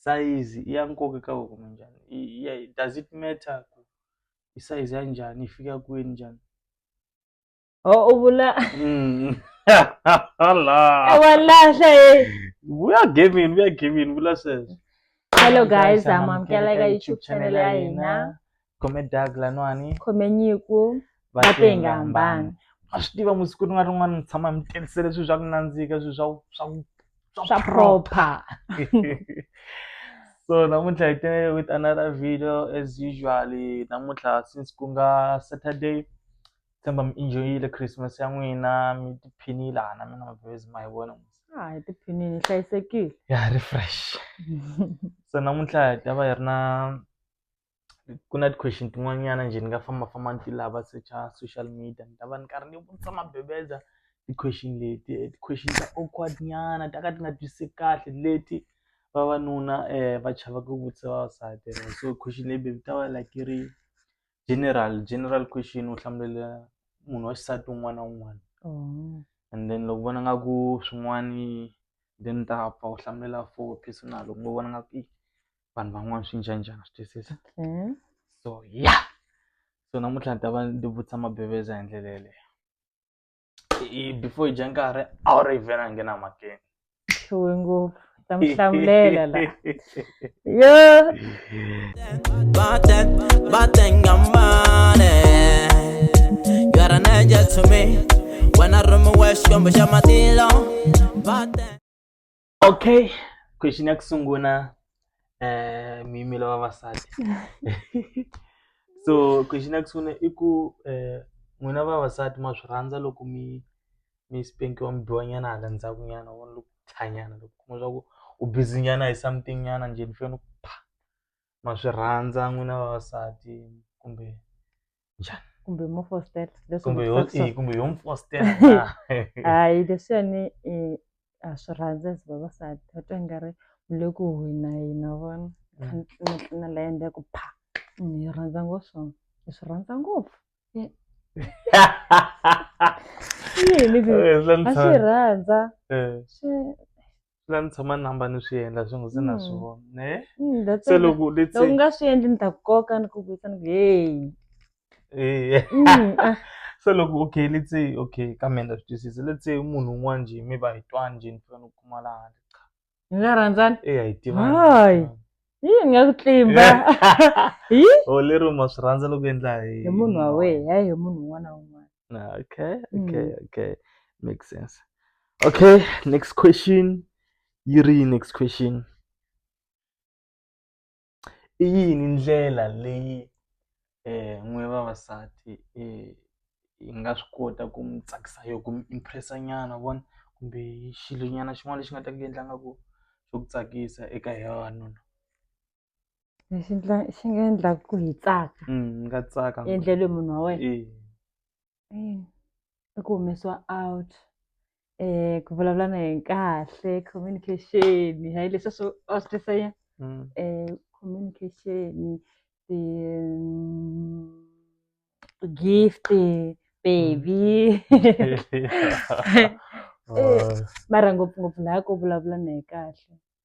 sayizi i ya nkoka eka wena kumbe njhani i ya does it matter ku i sayizi ya njhani yi fika kwini njhani u vula mm. walahla e vuya gamini vuya gamini vula sweswo hello guys amamukela eka youtube channel ya hina khome dag laniwani khome nyiko va tenga hambana va swi tiva musiku rin'wana rin'wana mi tshama mi tirhisele swilo swa ku nandzika swilo swa swa swa proper so namuntlha hi tele with another video as usual namuntlha since ku nga saturday tshemba mi enjoyile christmas ya n'wina mi tiphinile hana mina mavhezi ma hi vona ha hi tiphinile hi hlayisekile ya refresh so namuntlha hi ta va hi ri na ku na ti-question tin'wanyana njhe ni nga fambafamba ni ti lava secha social media ni ta va ni karhi ni vutisa mabebeza ti-question leti ti-question ta awkward nyana ta ka ti nga twisiseki kahle leti vavanuna va chavaka ku vutisa vavasati so question leyi yi ta va like yi ri general general question u hlamulela munhu wa xisati un'wana na un'wana and then loko vona nga ku swin'wani then ni ta pfa u hlamulela for personal loko ni vona nga ku i. vanhu van'wana swi njhani njhani swi twisisa okay. so ya so namuntlha ni ta va ndzi vutisa mabeveza hi ndlela yeleyo before hi dya nkarhi a wu ri hi vhela nghena makeni hluwe ngopfu ta mi hlamulela la yo You are an angel to me when I run my way, she come with your matilo. okay question ya ku sungula eh miyimelo ya vavasati so question ya ku sungula i ku eh n'wina vavasati ma swi rhandza loko mi mi spankiwa mi biwa nyana hala ndzhaku nyana wa loko tshanyana loko kuma swa ku u busy nyana hi something nyana njhe ni fanele ku pha ma swi rhandza n'wina vavasati kumbe njhani kumbe mo fostela leswi kumbe yo vutisaku swona. kumbe yo mi fostela hayi leswiyani i a swi rhandza as vavasati va twa ingari mi le ku hina hina vona Mm. na la endla ku pha Mm, hi rhandza ngopfu swona hi swi rhandza ngopfu yini ku a swi rhandza swi swi la ni tshama ni hamba ni swi endla swi ngo se na swi vona ne se loko let's say nga swi endli ni ta koka ni ku vuyisa ni hey eh so loko okay let's say okay ka mina ndza swi twisisa let's say munhu un'wana njhe mi va hi twani njhe ni fika ni kuma la handle hi nga rhandzani e hi tivani hayi hi nga ku tlimba hi o oh, lero ma swi rhandza loko endla hi munhu wa wehe hayi hi munhu un'wana na un'wana Ah, okay, okay, mm. okay. Makes sense. Okay, next question. Yuri, next question. i yini ndlela leyi eh n'we vavasati eh hi nga swi kota ku mi tsakisa yo ku mi impressa nyana vona kumbe xilo nyana xin'wana lexi nga ta ku endla nga ku xo ku tsakisa eka hi vavanuna lexi ndla xi nga endlaka ku hi tsaka mm, ni nga tsaka ngopfu. endlelwe munhu wa wena Eh, Eh, i ku humesiwa out um ku vulavula na yena kahle communication hayi leswi swo a swi tisa yini mm, um communication ti gift baby Eh, mara ngopfungopfu laha ko vulavula na yena kahle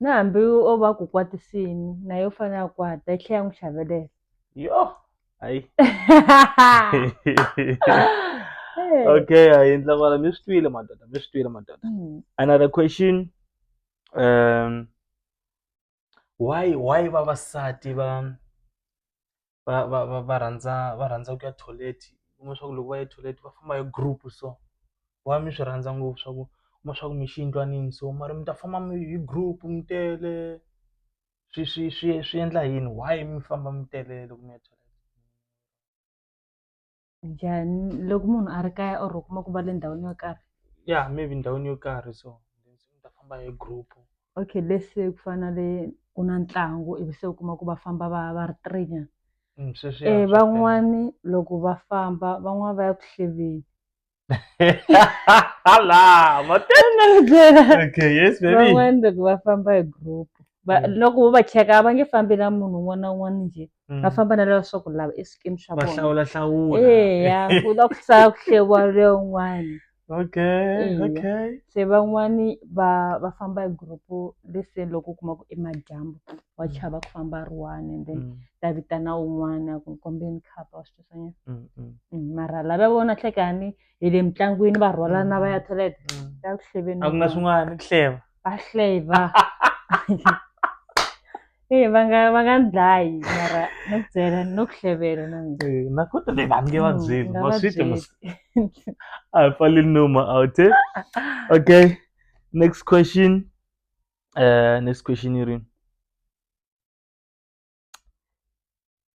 na hambi o va ku kwatisini na yo fana ya kwata yi tlhela ya n'wi hlavelela yo hayi okay hayi ndla kwala mi swi twile madoda mi swi twile madoda hmm. another question um why why vavasati va va va va va rhandza va rhandza ku ya toilet u kuma swa ku loko va ya toilet va famba hi group so va mi swi rhandza ngopfu swa ku kuma swa ku mi xi yindlwanini so mara mi ta famba mi hi group mi tele swi swi swi swi endla yini why mi famba mi tele loko mi ya toilet. njhani loko munhu a ri kaya or u kuma ku va le ndhawini yo karhi ya maybe ndhawini yo karhi so ni ta famba hi group okay let's say ku fana na le ku na ntlangu ivi se u kuma ku va famba va va ri three nyana Mm, sweswi ya, um swa tele. van'wani loko va famba van'wani va ya ku hleveni Hala, ma- okay yes baby van'wani loko va famba hi group va Mm. loko vo va cheka a va nge fambi na munhu un'wana na un'wana njhe Mm. va famba na leswaku lava i swikimi swa va vona hlawula hlawula eya ku la ku sala ku hlewa leyin'wana okay Eya. okay se van'wani va va famba hi group-u lese loko u kuma ku i madyambu wa chava ku famba ri one and then Mm, ta vitana un'wana ku kombeni khapa wa swi twisanyana mm, mm. mara lava vona hlekani hi le mitlangwini va rhwalana va ya mm. toilet mm. ya ku hleveni a ku na swin'wana ku hleva va hleva e va nga va nga ni dlayi mara no ku byela no ku hlevela na mina eh, na ku tele va nge va mm, byeli va swite mos a hi pfali numa out eh? okay next question uh next question yi rini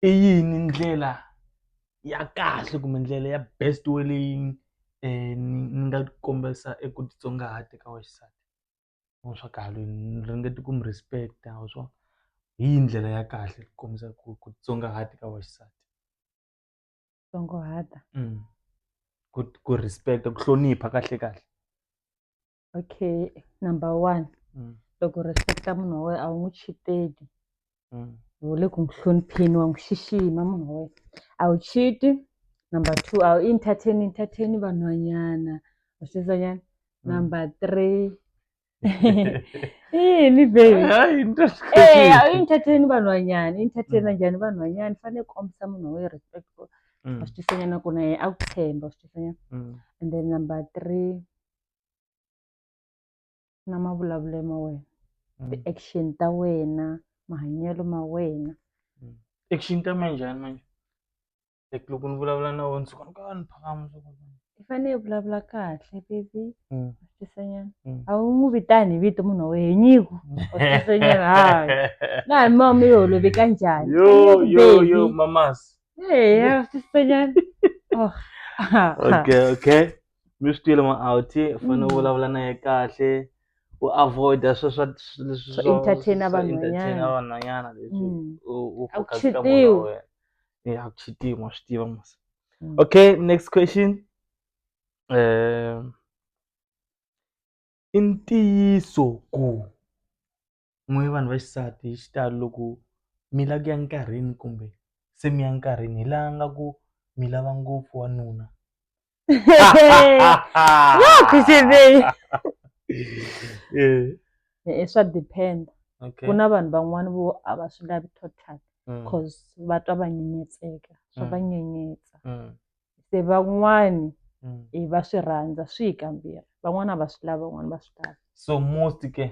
i yini ndlela ya kahle kumbe ndlela ya best way leyi ni nga kombisa eku titsongahata eka wa xisati wa swa kahle ni ringete ku mi respect wa swa hi yi ndlela ya kahle ku kombisa ku ku titsongahata ka wa xisati tsongahata ku ku respect ku hlonipha kahle kahle. okay number one mm. loko respecta munhu wa wena a wu n'wi chiteki mm. u le ku n'wi hlonipheni wa n'wi xixima munhu wa wena a wu chiti number two a wu entertain entertain vanhwanyana wa swi twisanyana mm. number three yini babyintateni vanhwanyani intateni anjhani vanhwanyani fanele kombisa munhu wa wena respect wa swi twisanyana ku na yena a ku tshemba wa swi twisanyana and then number three na mavulavulelo ma wena Mm. ti-action ta wena mahanyelo ma wena action ta mina njhani manje like loko ni vulavula na wena suka ni ka ni phakama suka i fanele i vulavula kahle baby Mm. tisanyana Mm. a wu n'wi vitani hi vito munhu wa wena nyiko tisanyana hayi laha mama mi yi holoveka njhani yo yo yo mamas eya tisanyana oh okay okay mi swi twile ma out u fanele u vulavula na ye kahle u avoid-a swe swa leswi Swa swo- entertain-a swo entertain-a vanhwanyana. vanhwanyana leswi Mm. u u A ku focus ka munhu wa cheat-iwi. wena. Eh, a ku cheat-iwi, ma swi tiva mos Mm. okay next question um i ntiyiso ku n'we vanhu va xisati hi xitalo loko mi lava ku ya enkarhini kumbe se mi ya enkarhini hi laha nga ku mi lava ngopfu wanuna e swa depend okay. ku na vanhu van'wani vo a va swi lavi total mm. cause va twa va nyenyetseka swa mm. va nyenyetsa mm. se van'wani mm. e va swi rhandza swi hi kambirhi van'wana a va swi lavi van'wana va swi lava so most ke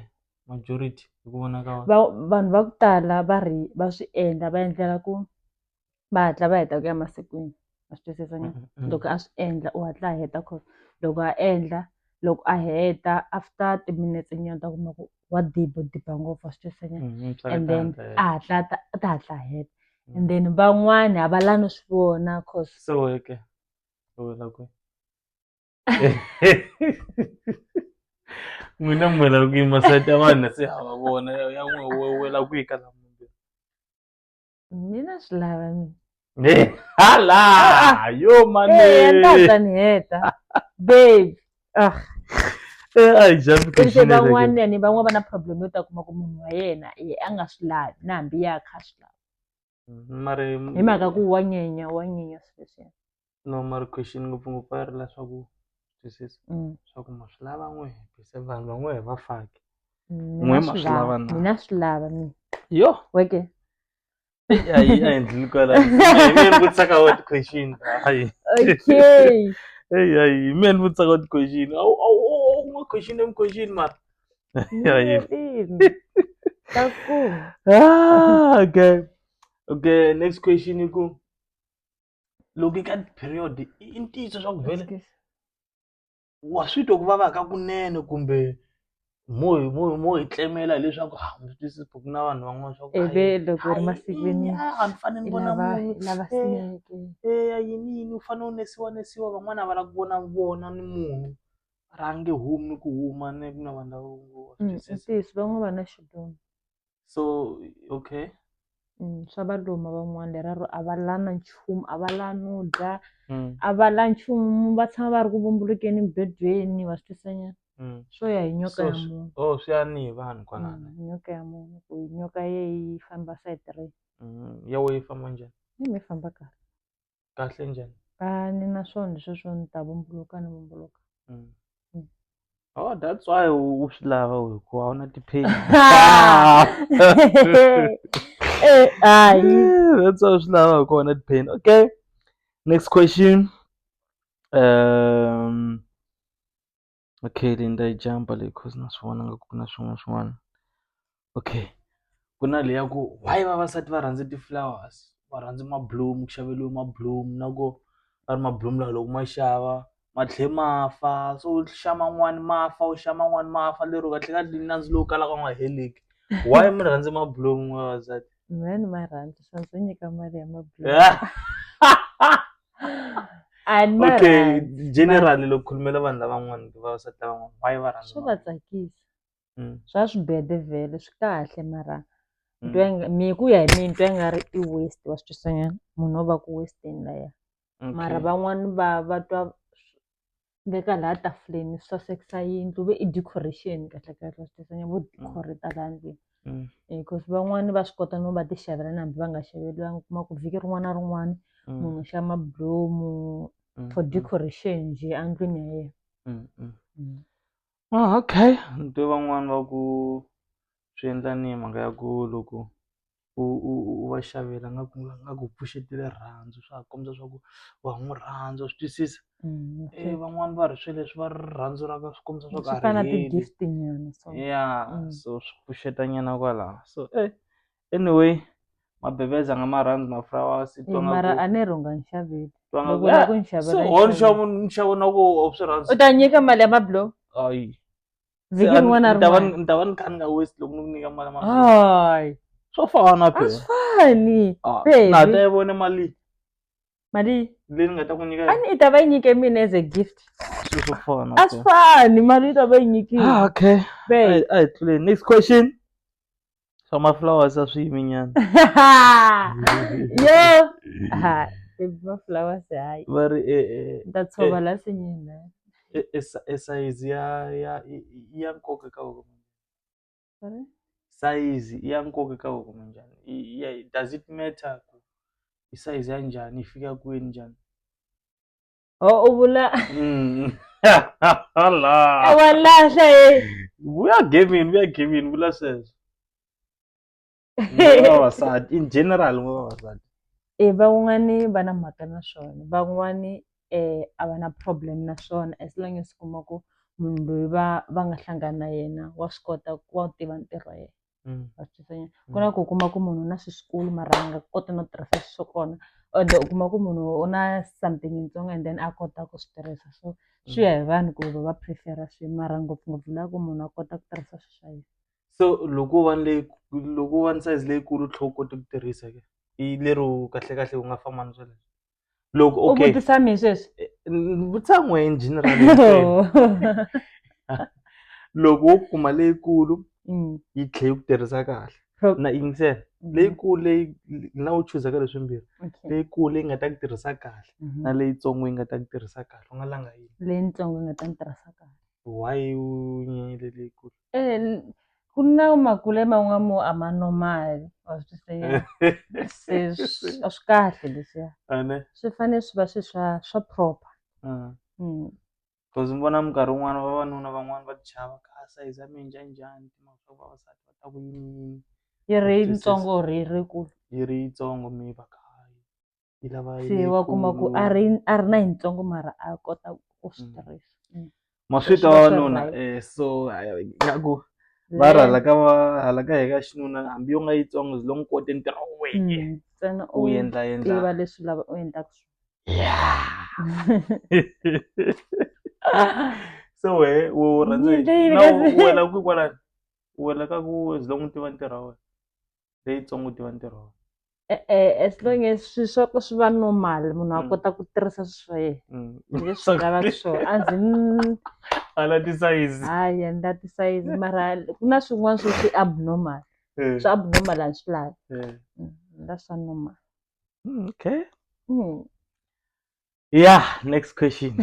majority hi ku vona ka wena va vanhu va ku tala va ri va swi endla va endlela ku va hatla va heta ku ya masikwini a swi twisisa na Mm-mm. loko a swi endla u hatla a heta cause loko a endla loko a heta after timinetse nyana ta kuma ku wa dibo diba ngopfu a swi twisisa na Mhm, swa and then katata, eh. a hatla a ta- a ta hatla a heta and then van'wani a va la no swi vona cause so weke u wela kwe n'wina mi lava ku yima side ya vanhu se hava vona ya n'we we we lava ku yi ka lama mina swi lava mina hala yo mane ndaza ni heta babe ah se van'wanyani van'wana va na problem yo ta kuma ku munhu wa yena a nga swi lavi na hambi ya kha swi lava mari hi mhaka ku wa nyenya wa nyenya swilo leswiya no mari question ngopfungopfu a yi ri leswaku twisisa Mm. swa ku ma swi lava n'we bise vanhu van'we hi va faki Mm, N'we mina ma swi swi lava lava na. mina swi lava mina yo weke a yi a endlile kwala mi ni vutisaka wa ti-question hayi okay eyi hayi mi ni vutisaka wa ti-question awu awu awu ma question em question mara Ay. ah, okay. Okay, next question you go. Look at period. In teacher shock vele. Waswitwa ku vava ka kunene kumbe mo mo mo hi tlemela leswaku ha mi twisisi buku na vanhu van'wana swa ku ebe loko ri masikwini a ni fanele ni vona munhu lava sineke eya yini yini u fanele u nesiwa nesiwa van'wana a va lava ku vona vona ni munhu ra nge humi ku huma ni ku na vanhu lavo ngo wa swi Mm, i twisisa ntiyiso van'wana va na xiduma so okay Mm, swa va luma van'wana leraro a va la na nchumu a va la no dya Mm, a va la nchumu va tshama va ri ku vumbulukeni mibedweni va swi twisanyana mm. swo ya hi nyoka So, ya swi- munhu oh swi ya ni hi vanhu kwalana Mm, nyoka ya munhu ku nyoka ye yi famba side ri Mm, ya wehe yi famba njhani ni mi famba kahle kahle njhani a ni na swona sweswo ni ta vumbuluka ni vumbuluka mm. Mm. Oh, that's why u swi lava hikuva a wu na ti-pain eh, that's why u swi lava hikuva u na ti-pain okay next question um Okay leyi ni ta yi jampa leyi coz na swi vona nga ku na swin'wana na swin'wana. Okay ku na leyi ya ku why vavasati va rhandza ti-flowers, va rhandza mabulomu ku xaveriwa mabulomu na ku va ri mabulomu lawa loko ma xava ma tlhela ma fa, se u xa man'wani ma fa u xa man'wani ma fa lero kahlekahle nandzu lowu kalaka u nga heleli. Why mi rhandza mabulomu n'wina vavasati? Van'wanyana ma rhandza swa ndzi nyika mali ya mabulo a ni ma okay rhandzi generally loko khulumela vanhu lavan'wana kumbe vavasati lavan'wana why va rhandza swa va mali? tsakisa Mm, swa swibede vhele swi kahle mara mm. twa inga- mi ku ya hi mina twa nga ri i waste wa swi twisanyana munhu o va ku westeni laya mara Okay. van'wani va va twa veka laha tafuleni swi sasekisa yindlu ve i decoration kahle kahle swi tisa nyana vo decor ta laha ndlwini because van'wani va swi kota no va ti xavela na hambi va nga xaveriwangi u kuma ku vhiki rin'wana na rin'wana munhu u xava mabulomu for decoration njhe endlwini ya yena. Okay ni twe van'wani va ku swi endla ni mhaka ya ku loko u u u va xavela nga ku nga ku pfuxeti rirhandzu swa ha kombisa swa ku wa ha n'wi rhandza wa swi twisisa van'wani va ri swilo leswi va rirhandzu ra ka swi kombisa swa ku a ri heli ya so swi pfuxeta nyana kwalano so . anyway mabheveza nga maranzi mafurawa mara ane rhonga nxaveli loko la ku nxavela so nxavo nxavo na ku swi rhandzi u ta nyika mali ya mablo hayi vhiki rin'wana na rin'wana ni ta va ni kha ni nga waste loko ni ku nyika mali ya mablo hayi swo fana pe swi fani ah, pe na ta yi vone mali mali leyi ni nga ta ku nyika ani i ta va yi nyike mina as a gift swi swo fana a swi fani mali yi ta va yi nyikile ah, okay a hi tluleni next question swa maflowers a swi yimi nyana yo ha baby maflowers hayi va ri e, e, ni ta tshova la sinyini e, e, sa- e sayizi ya ya i- i ya nkoka ka voko Sorry? sayizi i ya nkoka ka voko munjhani I- i ya- does it matter ku i sayizi ya njhani yi fika kwini njhani Oh, u vula Mm. Allah. wa lahla ye We are gaming, we are gaming, vula sweswo. Nguva vavasati, in general nguva vavasati. e van'wani va na mhaka na swona van'wani um a va na problem na swona as long as u kuma ku munhu loyi va va nga hlangana na yena wa swi kota ku wa wu tiva ntirho wa yena Mm. a swi twisanyana ku na ku u kuma ku munhu u na swi swikulu mara a nga koti no tirhisa swi swo kona and u kuma ku munhu u na something yitsongo and then a kota ku swi tirhisa so swi ya hi vanhu ku va va prefera swi mara ngopfungopfu la ku munhu a kota ku tirhisa swi swa yena so loko u va ni leyi loko u va ni size leyikulu u tlhe u kota ku tirhisa ke i lero kahlekahle u nga famba ni swona loko u okay vutisa mina sweswi Ni vutisa n'we in general hinkwenu. loko wo kuma leyikulu Mm, yi tlhe yi ku tirhisa kahle pro- na yingisela Mhm. leyikulu leyi na u chuzaka leswimbirhi okay. leyikulu leyi nga ta ku tirhisa kahle Mhm. na leyitsongo yi nga ta ku tirhisa kahle u nga langa yini leyitsongo yi nga ta ni tirhisa kahle why u nyanyile leyikulu Eh, n- ku na makule man'wana mo a ma normal wa swi tiva se swi- a swi kahle leswiya ene swi fanele swi va swi swa swa proper mm. mm. cause ni vona minkarhi wun'wana vavanuna van'wana va tichava ka sayizi ya mina njhanjhani timhaka swa ku vavasati va ta ku yini yini yi ri Swi- swi- yitsongo or yi ri kulu yi ri yitsongo mi va kahle yi lava se wa kuma ku a ri a ri na yitsongo mara a kota ku swi mm. tirhisa mm. ma swi twa wanuna eh, so nga ku va ri hala ka va hala ka heka xinuna hambi yo nga yitsongo zi longo kote ntirho wu weke mm, ntsena u endla endla tiva leswi lava u endlaka swona so we u rhandza wena ku kwalani wena ka ku zi longo tiva ntirho wa wena leyitsongo tiva ntirho wa e-e as long as swi swa ku swi va normal munhu a Mm. kota ku tirhisa swi swa yena Mm. leswi lavaka swona a ndzi mm, ala tisayizi hayi a ni la tisayizi mara ku na swin'wana swo swi abnormal Eh, swi abnormal a ni swi lavi eh. Mm, ni la swa normal Mm, okay Mm. Yeah, next question.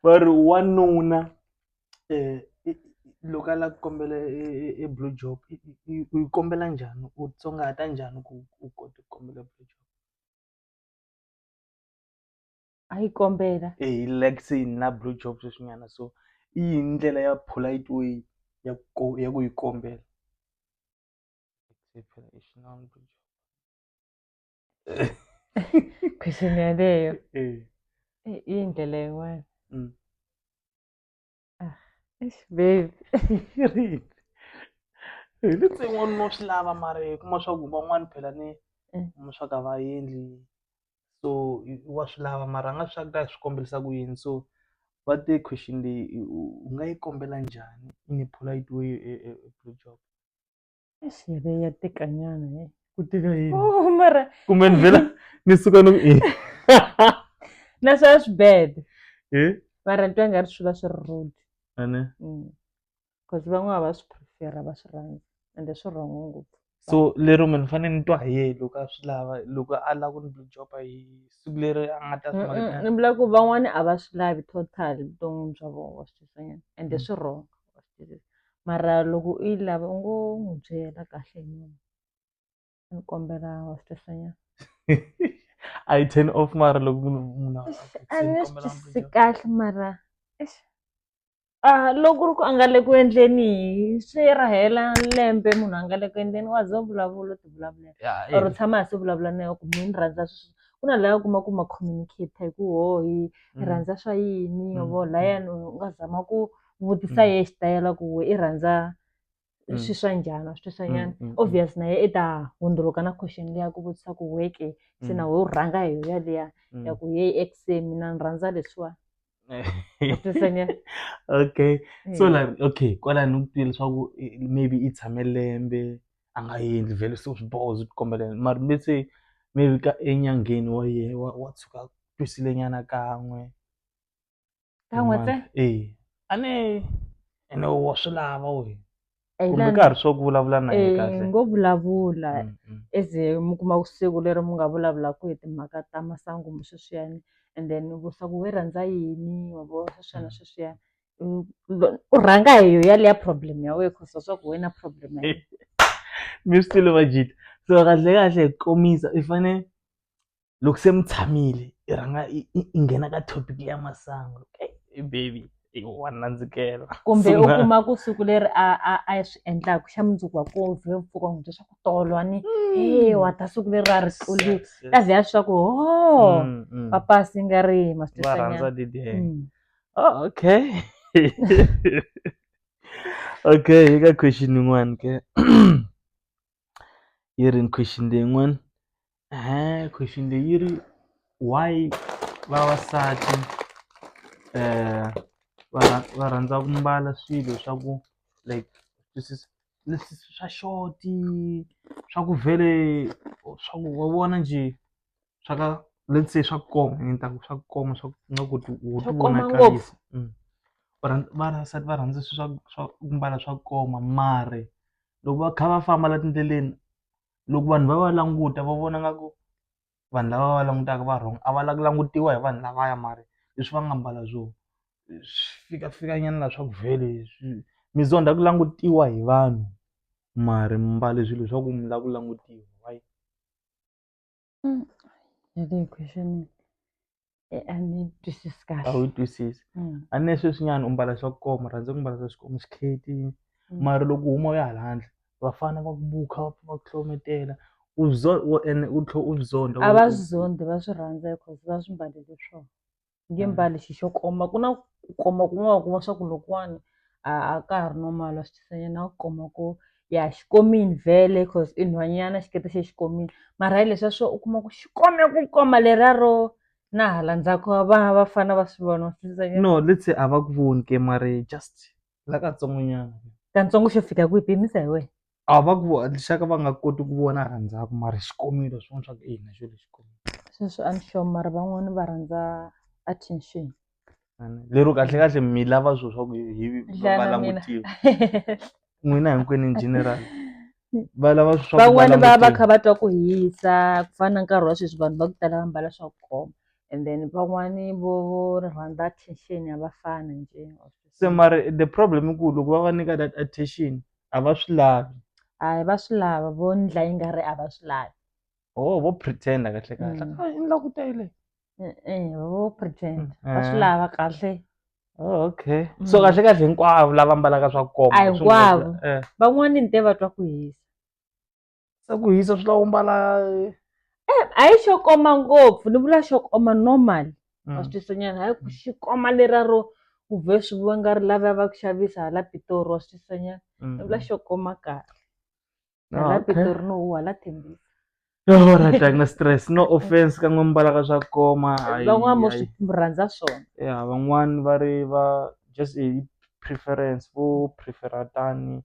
va ri wanuna um loko a lava ku kombela e blue job u yi kombela njhani u tsongahata njhani ku u kota ku kombela blue job a yi kombela e like se na blue job sweswinyana so i yini ndlela ya polite way ya ku ya ku yi kombela Exceptional bridge. Question ya leyo. Eh. Eh, Indlela yin'wana. Mm. Ah, eish, babe. Rini? Hi le tsin'wani no swi lava mara hi kuma swa ku van'wani phela ni Mm. kuma swa ka va endli so i- wa swi lava mara a nga swi ta swi kombelisa ku yini so va te question leyi i- u u nga yi kombela njhani in a polite way e- e- e blue job Siyebe ya tikanyana he. ku tika yini Oh, mara kumbe ni vhela ni suka ni ku e na swa swi bad. e Mara ni twa nga ri swi va swi ri rude. ane Mm. Cause van'wana va swi prefer va swi rhandza ende swi wrong ngopfu. so lero mina ni fanele ni twa hi yehe loko a swi lava loko a lava ku ni blue job hi siku leri a nga ta swi Mm, mm, maka Ni vula ku van'wana a va swi lavi total vuton'wini bya vona va swi twisanyana ende Mm. swi wrong. wa swi twisisa mara loko u yi lava u ngo n'wi byela kahle hi munhu ni kombela wa swi twisisa nyana a yi ten off mara loko munhu munhu a- Eish, a a ni swi kombela twisisi mbuyelo. kahle mara eish. Ah, loko ku ri ku a nga le ku endleni hi swi ra hela lembe munhu a nga le ku endleni wa za u vulavula u ti vulavulela Ya, or u eh, tshama hansi u vulavula na yona ku mi ni rhandza sweswi ku na laya u kuma ku ma communicate hi ku ho hi hi mm. rhandza swa yini Mm, yovo mm. layani u nga zama ku vutisa ye xitayela ku we i rhandza swi swa njhani wa swi twisisa nyana obvious na ye i ta hundzuluka na question leyi ya ku vutisa ku we ke se na we u rhanga hi ya liya ya ku yeyi ex se mina ni rhandza leswiwa wa twisisa nyana okay so like okay kwalani ni ku twile leswaku maybe i tshame lembe a nga endli vhele se swiboho swi kombela yena mara me se maybe ka enyangeni wa ye wa wa tshuka a twisile nyana kan'we. ka n'we ntsena eya a ni ene wa swi lava wena kumbe ka ha ri swa ku vulavula na yena kahle ngo vulavula mm, mm. as mi kuma siku leri mi nga vulavulaka hi timhaka ta masangu mi sweswiyani and then vusaku we rhandza yini wa vo sweswiyana mm. sweswiyana u rhanga hi yo yaleya problem ya wena cause swa ku wena problem ya mi swi tile vajita so kahle kahle hi komisa i fanele loko se mi tshamile i rhanga i nghena ka topic ya masangu i baby i wa nandzikela kumbe u kuma ku siku leri a a a swi endlaka xa mundzuku wa ku vhe mpfuka n'wi bya swa ku tolwa ni mm. e wa ta siku leri ra ri tluli ta vhe ya swa ku ho oh, mm, mm. papasi nga ri masitesanyana oh, okay okay yi ka question yin'wana ke irin question day ng'wen ehe question day iri why vavasati eh, va rha- va rhandza ku mbala swilo swa ku like twisisa leswi swa xoti swa ku vhele swa ku wa vona njhe swa ka let's say swa ku koma ni ta ku swa ku koma swa ku nga ku ti u Swa ti ku koma vonakarisa ngopfu. Mm. Va rhandza- vavasati va rhandza swilo swa swa ku mbala swa ku koma mare loko va kha va famba la tindleleni loko vanhu va va languta va vona nga ku vanhu lava va langutaka va wrong a va lava ku langutiwa hi vanhu lavaya mara leswi va nga mbala swo swi fika fika nyana la swa ku vhele swi mi zonda ku langutiwa hi vanhu mara mi mbale swilo swa ku mi lava ku langutiwa why. Mm. Yale question eh, a ni twisisi kahle. a wu twisisi Mm. a ni sweswinyana u mbala swa ku koma rhandza ku mbala swa swikomo xikheti Mm. mara loko u huma u ya hala handle vafana va ku bukha va pfa va ku hlometela u zo- wo- ene u tlhe u zonda a va swi zondi va swi rhandza because va swi mbalele swona nge Mm. mbali xi xo koma ku na ku koma kun'wana kuma swa ku lokuwani a a ka ha ri normal wa swi twisanyana ku koma ku ya xi komini vhele cause i nhwanyana xikete xe xi komini mara hi leswiya swo u kuma ku xi kome ku koma leriya ro na hala ndzhaku va vafana va swi vona wa swi twisanyana no let's say a va ku voni ke mare just la katsongonyana kantsongo xo fika kwihi pimisa hi wena a va ku lexaka va nga koti ku vona rhandzaka mara xikomelo swin'wana swa ku i hina xo lexikomelo sweswi a ni sure mara van'wani va rhandza attention lero kahle kahle mi lava swilo swa ku hi va Dlana mina. langutiwa n'wina hinkwenu in general va lava swilo swa ku va van'wani va va langutiwa. kha va twa ku hisa ku fana na nkarhi wa sweswi vanhu va ku tala va mbala swa ku koma and then van'wani vo vo rhandza attention ya vafana njhe se mara the problem i ku loko va va nyika that attention a va swi lavi hayi va swi lava vo ndla yi nga ri a va swi lavi oh vo pretenda kahle kahle Mm. "Ah, i ndla ku ta yi leyi." e-e vo pretend va swi Eh. lava kahle Oh, okay so Mm. kahle kahle hinkwavo lava mbalaka swa koma A swi nga- hinkwavo. eh. van'wani ni te va twa ku hisa se ku hisa swi lava u mbala eh, a yi xo koma ngopfu ni vula xo koma normal mm. wa swi twisanyana hayi ku xi koma lera ro ku vhe swi vua nga ri lava va ku xavisa hala pitori wa swi twisanyana mm. ni vula xo koma kahle ah, hala pitori no u hala thembisa yorat a ku na stress no offense ka n'we mbala ka swa koma van'wana mo swi rhandza swona ya van'wani va ri va just hi preference vo prefera tani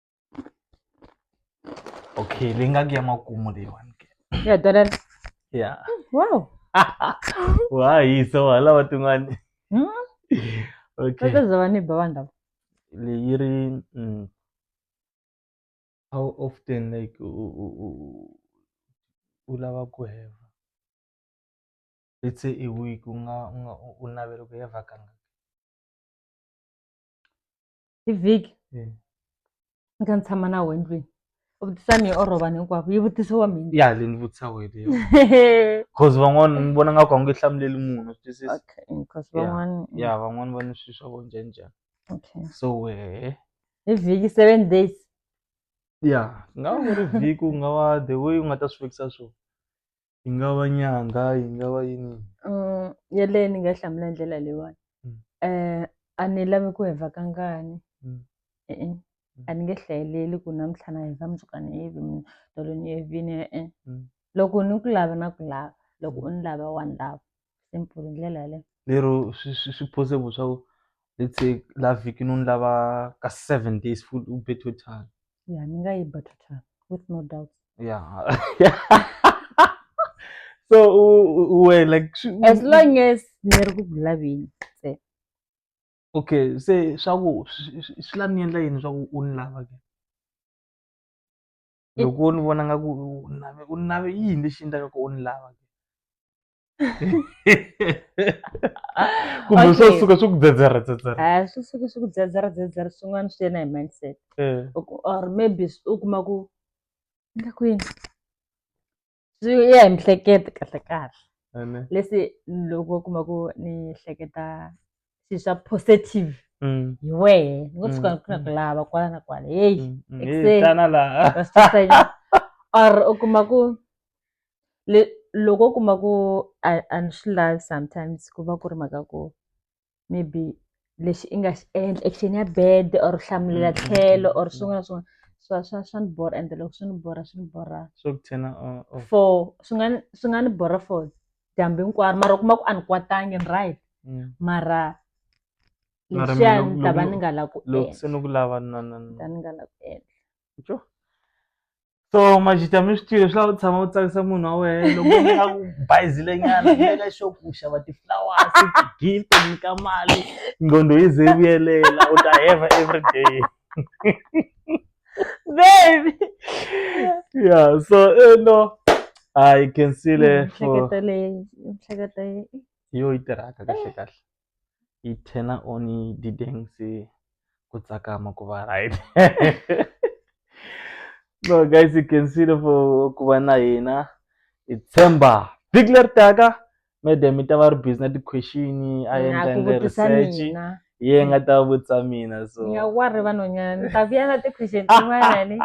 okay leyi nga ku ya makumu leyiwani ke ya dollar ya wow wa hisa wa lava tin'wani Hmm? okay Sasa za wani ba wanda. leyi ri mm, how often like u u- u- u- u lava ku heva let's say a week u nga u nga u- u navela ku heva kanga hi vhiki Eh. ni kha ni tshama na wena ndlwini u vutisa ni orovani hinkwavo yi vutisiwa mina ya le ni vutisa wena yo cause van'wana ni vona nga ku a nge hlamuleli munhu swi twisisa okay because Yeah. van'wana ya van'wana va ni swilo swa vo njhani njhani okay so wehe hi vhiki seven days ya ku nga va ku ri vhiki ku nga va the way u nga ta swi fikisa swona yi nga va nyanga yi nga va yini Mm, yeleyo ni nga yi hlamula hi ndlela leyiwani Mm. um a ni lavi ku heva ka ngani Mm. e-e a ni nge hlayeleli ku namuntlha na heva mundzuka ni yivi mina tolo ni yevini e-e Mm. loko ni ku lava na ku lava loko u ni lava wa ni lava simple hi ndlela yaleyo lero swi swi swi possible swa ku let's say la vhikini u ni lava ka seven days full u be total ya ni nga yi ba total with no doubt ya so u u- u wena like swi- u- as long as ni ri ku ku laveni ntsena. okay se swa ku swi- swi swi la ni endla yini swa ku u ni lava ke It- loko u ni vona nga ku u ni lave u ni lave yini lexi endlaka ku u ni lava ke kumbe swo suka swi ku dzedzera dzedzera a swi suke swi ku dzedzera dzedzera swin'wana swi yena hi mindset eh. or maybe u kuma ku nga kwini swi ya hi mihlekete kahle kahle leswi loko u kuma ku ni hleketa swilo swa positive mm. hi wehe ni ngo suka mm, ku na ku mm. lava kwala na kwala heyi ekuseni or u kuma ku Le loko wo kuma ku a a ni swi lavi sometimes ku va ku ri mhaka ya ku maybe lexi i nga xi endla action ya bad or u hlamulela tlhelo or swin'wana na swin'wana swa swa swa ni borha ende loko swi ni borha swi ni borha swo ku tshena u u for swi nga ni swi nga ni borha for dyambu hinkwaro mara u kuma ku a ni kwatangi ni right Mm. mara Mara mina leswiya loko- ni ta va loko- ni nga lavi ku loko se endla ni ku lava na na ni ta ni nga lavi ku endla Tjo. so majita mi swi tiva swi lava u tshama u tsakisa munhu wa wena loko u nga ku bayizile nyana eka xo ku xava ti-flowers ti-gift u nyika mali nqondo yi ze vuyelela u ta heva every day baby yeah so you eh, know i can see le for yo yi tirhaka kahle kahle yi turn on yi dyi dance ku tsakama ku va right no guys you can see the for ku va na hina hi tshemba vhiki leri taka madam yi ta va ri busy na ti-question a endla endle research ye nga ta vutisa mina so nga wa ri vanhwanyana ni ta vuya na ti-question tin'wana ni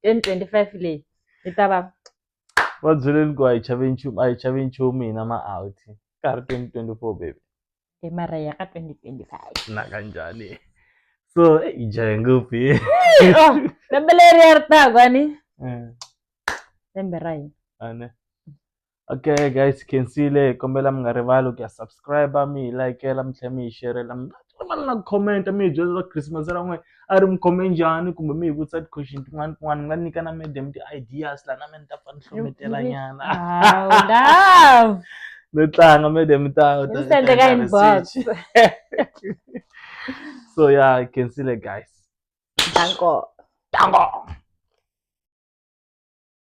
twenty twenty five leyi yi ta va va byeleni ku a hi chave nchumu a hi chave nchumu hina ma out ka ha ri twenty twenty four baby e mara ya ka twenty twenty five na kanjhani so i jahe ngopfu ye oh, lembe leri ya ri taku ani eh. lembe ra hina ane okay guys khensile kombela mi nga rivali ku ya subscribe mi hi likela mi tlhela mi hi xerela mi ni va na comment-a mi hi byela swa christmas ra n'wehe a ri mi khome njhani kumbe mi hi vutisa ti-question tin'wana tin'wana mi nga nyika na madam ti-ideas laha na me ni ta fa ni hlometela nyana Wow, no tlanga madam ta ta- Ni ta sendela endla inbox. research. so yeah you can see the guys Danko. tango